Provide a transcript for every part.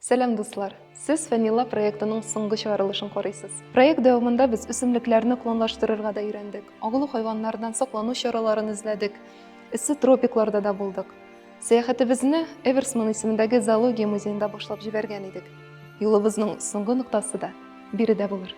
Сәлам дуслар! Сез Фәнила проектының соңгы чыгарылышын карыйсыз. Проект дәвамында без үсемлекләрне клонлаштырырга да өйрәндек, агулы хайваннардан саклану чараларын эзләдек, эссе тропикларда да булдык. Сәяхәтебезне Эверсман исемендәге зоология музеенда башлап җибәргән идек. Юлыбызның соңгы ноктасы да биредә булыр.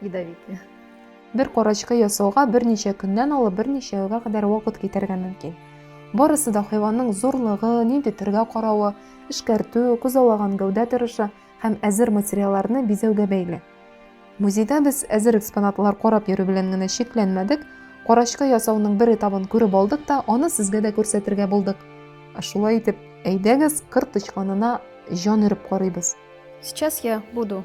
ядовитые. Бер корочка ясауга берничә көннән алып берничә елга кадәр вакыт китәргә мөмкин. Барысы да хайванның зурлыгы, нинди төргә каравы, эшкәртү, күзаллаган гәүдә торышы һәм әзер материалларны бизәүгә бәйле. Музейда без әзер экспонатлар карап йөрү белән генә чикләнмәдек, корочка ясауның бер этабын күреп алдык та, аны сезгә дә күрсәтергә булдык. Ә шулай итеп, әйдәгез, кыр тычканына җан өреп карыйбыз. Сейчас я буду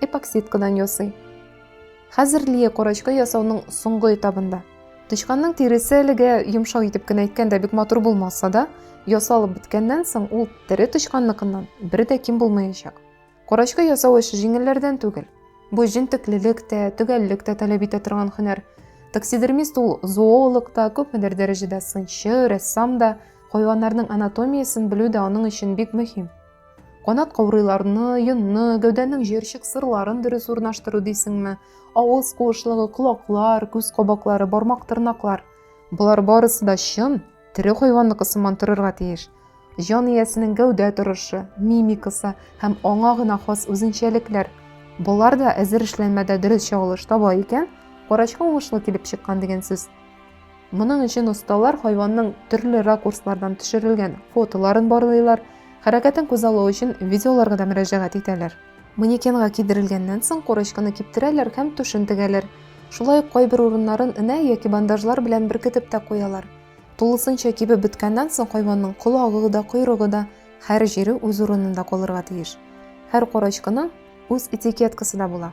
эпоксидкадан ясый. Хәзер Лия корочка ясауның соңгы этабында. Тычканның тиресе әлегә йомшак итеп кенә әйткәндә бик матур булмаса да, ясалып беткәннән соң ул тере тычканныкыннан бер дә ким булмаячак. Корочка ясау эше җиңелләрдән түгел. Бу җентеклелек тә, төгәллек тә таләп итә торган һөнәр. Таксидермист ул зоолог та, күпмедер дәрәҗәдә сынчы, рәссам да, хайваннарның анатомиясен белү дә аның өчен бик мөһим. Канат каурыйларны, йонны, гәүдәнең җыерчык сырларын дөрес урнаштыру дисеңме? Авыз куышлыгы, колаклар, күз кабаклары, бармак тырнаклар. Болар барысы да чын, тере хайванныкы сыман торырга тиеш. Җан иясенең гәүдә торышы, мимикасы һәм аңа гына хас үзенчәлекләр. Болар да әзер эшләнмәдә дөрес чагылыш таба икән, карачка уңышлы килеп чыккан дигән сүз. Моның өчен осталар хайванның төрле ракурслардан төшерелгән фотоларын барлыйлар, хәрәкәтен күзаллау өчен видеоларга да мөрәҗәгать итәләр. Манекенга кидерелгәннән соң корочканы киптерәләр һәм түшен тегәләр. Шулай ук кайбер урыннарын энә яки бандажлар белән беркетеп тә куялар. Тулысынча кибеп беткәннән соң хайванның колагы да, койрыгы да, һәр җире үз урынында калырга тиеш. Һәр корочканың үз этикеткасы да була.